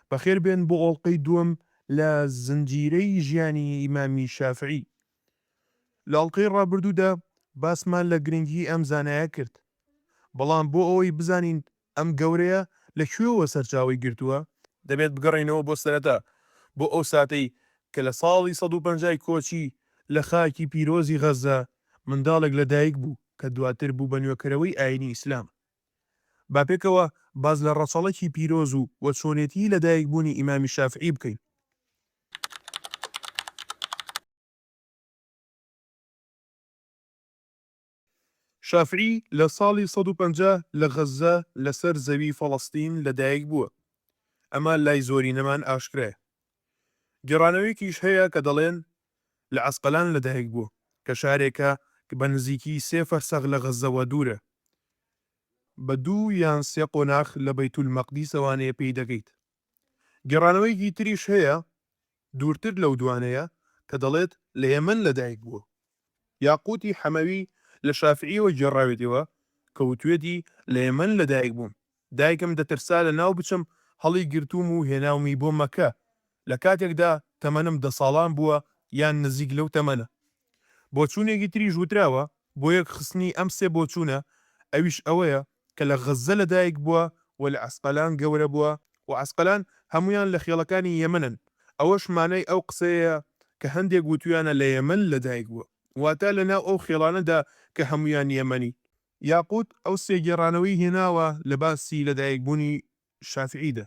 بەخێربێن بۆ ئۆڵقەی دووەم لە زنجیرەی ژیانی ئیمامی شافعی. لە ئەڵقەی ڕابردوودا باسمان لە گرنگی ئەم زانایە کرد، بەڵام بۆ ئەوەی بزانین ئەم گەورەیە لە کوێوە سەرچاوەی گرتووە، دەبێت بگەڕێینەوە بۆ سەرەتا، بۆ ئەو ساتەی کە لە ساڵی سەد و پەنجا ی کۆچی لە خاکی پیرۆزی غەززە منداڵێک لە دایک بوو کە دواتر بوو بە نوێکەرەوەی ئایینی ئیسلام. با پێکەوە باس لە ڕەچەڵەکی پیرۆز و و چۆنێتیی لەدایکبوونی ئیمامی شافعی بکەین. شافعی لە ساڵی سەد و پەنجا لە غەززە لەسەر زەوی فەڵەستین لەدایکبووە، ئەمە لای زۆرینەمان ئاشکرایە. گێڕانەوەیەکیش هەیە کە دەڵێن لە عەسقەلان لەدایک بووە کە شارێکە بە نزیکی سێ فەرسەخ لە غەززەوە دوورە، بە دوو یان سێ قۆناخ لە بەیتولمەقدیسەوە نێ پێی دەگەیت. گێڕانەوەیەکی تریش هەیە دوورتر لەو دوانەیە کە دەڵێت لە یەمەن لەدایک بووە. یاقووتی حەمەوی لە شافیعییەوە گێڕاوێتیەوە کە وتوێتی، لە یەمەن لە دایک بووم، دایکم دەترسا لە ناو بچم، هەڵی گرتووم و هێناومی بۆ مەککە، لە کاتێکدا تەمەنم دە ساڵان بووە یان نزیک لەو تەمەنە. بۆچوونێکی تریش وتراوە بۆ یەک خستنی ئەم سێ بۆچوونە، ئەویش ئەوەیە کە لە غەززە لەدایک بووە و لە عەسقەلان گەورە بووە و عەسقەلان هەموویان لە خێڵەکانی یەمەنن، ئەوەش مانای ئەو قسەیەیە کە هەندێک وتویانە لە یەمەن لەدایک بووە، واتە لە ناو ئەو خێڵانەدا کە هەموویان یەمەنی. یاقووت ئەو سێ گێڕانەوەی هێناوە لە باسی لەدایک بوونی شافیعیدا،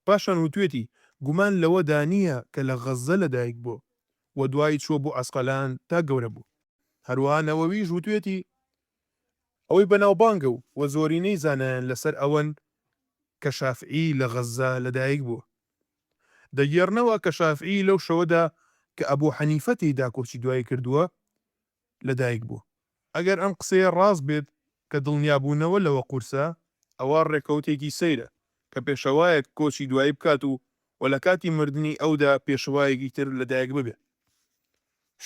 پاشان وتوێتی، گومان لەوەدا نییە کە لە غەززە لەدایک بووە و دوای چووە بۆ عەسقەلان تا گەورە بووە. هەروەها نەوەویش وتوێتی، ئەوەی بەناوبانگە و و زۆرینەی زانایان لەسەر ئەوەن کە شافعی لە غەززە لەدایک بووە. دەگێڕنەوە کە شافعی لەو شەوەدا کە ئەبوو حەنیفە تێیدا کۆچی دوایی کردووە لەدایک بووە. ئەگەر ئەم قسەیە ڕاست بێت کە دڵنیابوونەوە لەوە قورسە، ئەوا ڕێکەوتێکی سەیرە کە پێشەوایەک کۆچی دوایی بکات و و لە کاتی مردنی ئەودا پێشەوایەکی تر لەدایک ببێت.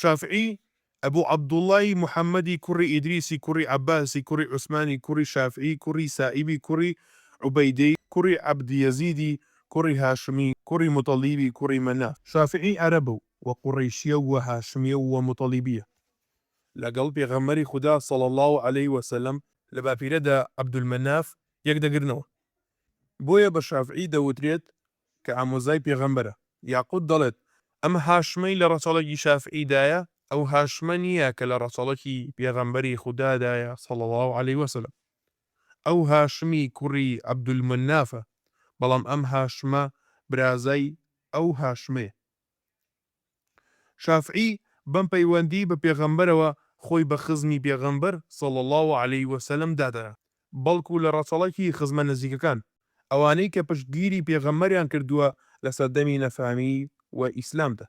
شافعی، ئەبو عەبدوڵڵای محەممەدی کوڕی ئیدریسی کوڕی عەباسی کوڕی عوسمانی کوڕی شافعی کوڕی سائیبی کوڕی عوبەیدەی کوڕی عەبد یەزیدی کوڕی هاشمی کوڕی موتەڵیبی کوڕی مەناف. شافعی عەرەبە و و قوڕەیشییە و هاشمییە و و موتەڵیبییە. لەگەڵ پێغەمبەری خودا صلی اللە علیە وسلم، لە باپیرەدا عەبدولمەناف یەک دەگرنەوە بۆیە بە شافعی دەوترێت کە ئامۆزای پێغەمبەرە، یاقوت دەڵێت، ئەم هاشمەی لە ڕەچەڵەکی شافعیدایە، ئەو هاشمە نییە کە لە ڕەچەڵەکی پێغەمبەری خودادایە صلی اللە علیە وسلم، ئەو هاشمی کوڕی عبدالمنافە، بەڵام ئەم هاشمە برازای ئەو هاشمەیە. شافعی بەم پەیوەندی بە پێغەمبەرەوە خۆی بە خزمی پێغەمبەر صلی اللە علیە وسلم دادەنا بەڵکو لە ڕەچەڵەکی خزمە نزیکەکان ئەوانەی کە پشتگیری پێغەمبەریان کردووە لە سەردەمی نەفامی و ئیسلامدا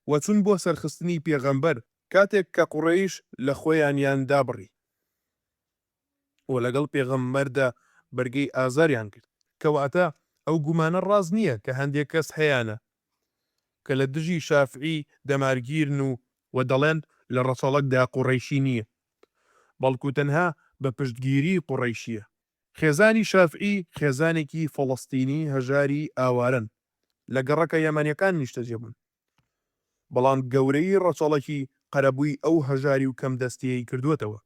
و چون بۆ سەرخستنی پێغەمبەر کاتێک کە قوڕەیش لە خۆیانیان دابڕی. و لەگەڵ پێغەمبەردا بەرگەی ئازاریان گرت. کەواتە ئەو گومانە ڕاست نییە کە هەندێک کەس هەیانە کە لە دژی شافعی دەمارگیرن و، و دەڵێن لە ڕەچەڵەکدا قوڕەیشی نییە بەڵکو تەنها بە پشتگیری قوڕەیشییە. خێزانی شافعی خێزانێکی فەڵەستینی هەژاری ئاوارەن، لە گەڕەکە یەمەنییەکان نیشتەجێبوون. بەڵام گەورەیی ڕەچەڵەکی قەرەبووی ئەو هەژاری و کەم دەستیەی کردووەتەوە.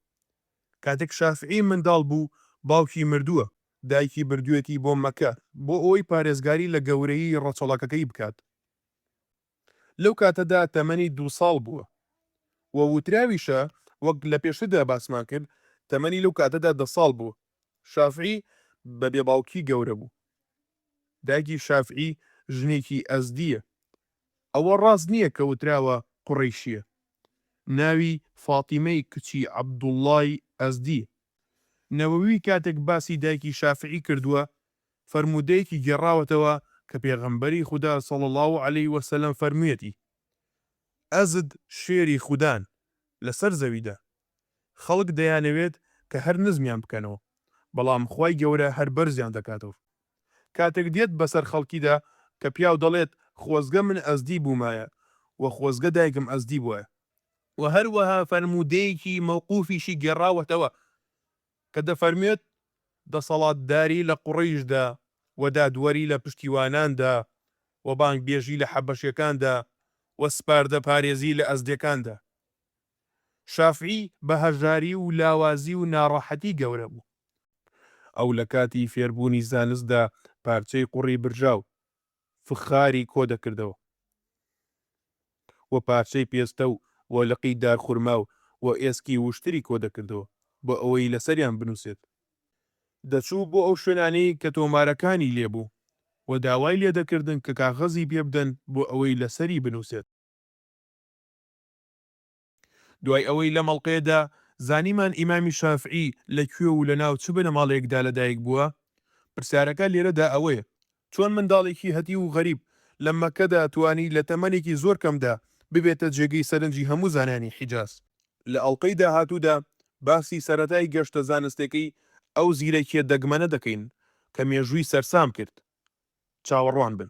کاتێک شافعی منداڵ بوو باوکی مردووە، دایکی بردوویەتی بۆ مەککە بۆ ئەوەی پارێزگاری لە گەورەیی ڕەچەڵەکەکەی بکات. لەو کاتەدا تەمەنی دوو ساڵ بووە و وتراویشە وەک لە پێشتردا باسمان کرد تەمەنی لەو کاتەدا دە ساڵ بوو. شافعی بە بێ باوکی گەورە بوو. دایکی شافعی ژنێکی ئەزدییە. ئەوە ڕاست نییە کە وتراوە قوڕەیشییە. ناوی فاتیمەی کچی عەبدوڵڵای ئەزدییە. نەوەوی کاتێک باسی دایکی شافعی کردووە، فەرموودەیەکی گێڕاوەتەوە کە پێغەمبەری خودا صلی اللە علیە وسلم فەرموویەتی، ئەزد شێری خودان لەسەر زەویدا. خەڵک دەیانەوێت کە هەر نزمیان بکەنەوە بەڵام خوای گەورە هەر بەرزیان دەکاتەوە کاتێک دێت بەسەر خەڵکیدا کە پیاو دەڵێت خۆزگە من ئەزدی بوومایە وە خۆزگە دایکم ئەزدی بوایە. وە هەروەها فەرموودەیەکی مەوقوفیشی گێڕاوەتەوە کە دەفەرموێت، دەسەڵاتداری لە قوڕەیشدا وە دادوەری لە پشتیواناندا وە بانگبێژی لە حەبەشێکاندا وە سپاردە پارێزی لە ئەزدێکاندا. شافعی بە هەژاری و لاوازی و ناڕەحەتی گەورە بوو. ئەو لە کاتی فێربوونی زانستدا پارچەی قوڕی برژاو، فخاری کۆ دەکردەوە و پارچەی پێستە و و لقی دارخورما و و ئێسکی وشتری کۆ دەکردەوە بۆ ئەوەی لەسەریان بنووسێت. دەچوو بۆ ئەو شوێنانەی کە تۆمارەکانی لێ بوو و داوای لێ دەکردن کە کاغەزی پێ بدەن بۆ ئەوەی لەسەری بنووسێت. دوای ئەوەی لەم ئەڵقەیەدا زانیمان ئیمامی شافعی لە کوێ و لەناو چ بنەماڵەیەکدا لەدایک بووە، پرسیارەکە لێرەدا ئەوەیە، چۆن منداڵێکی هەتیو و غەریب لە مەککەدا توانی لە تەمەنێکی زۆر کەمدا ببێتە جێگەی سەرنجی هەموو زانایانی حیجاز؟ لە ئەڵقەی داهاتوودا باسی سەرەتای گەشتە زانستێکەی ئەو زیرەکییە دەگمەنە دەکەین کە مێژووی سەرسام کرد. چاوەڕوان بن.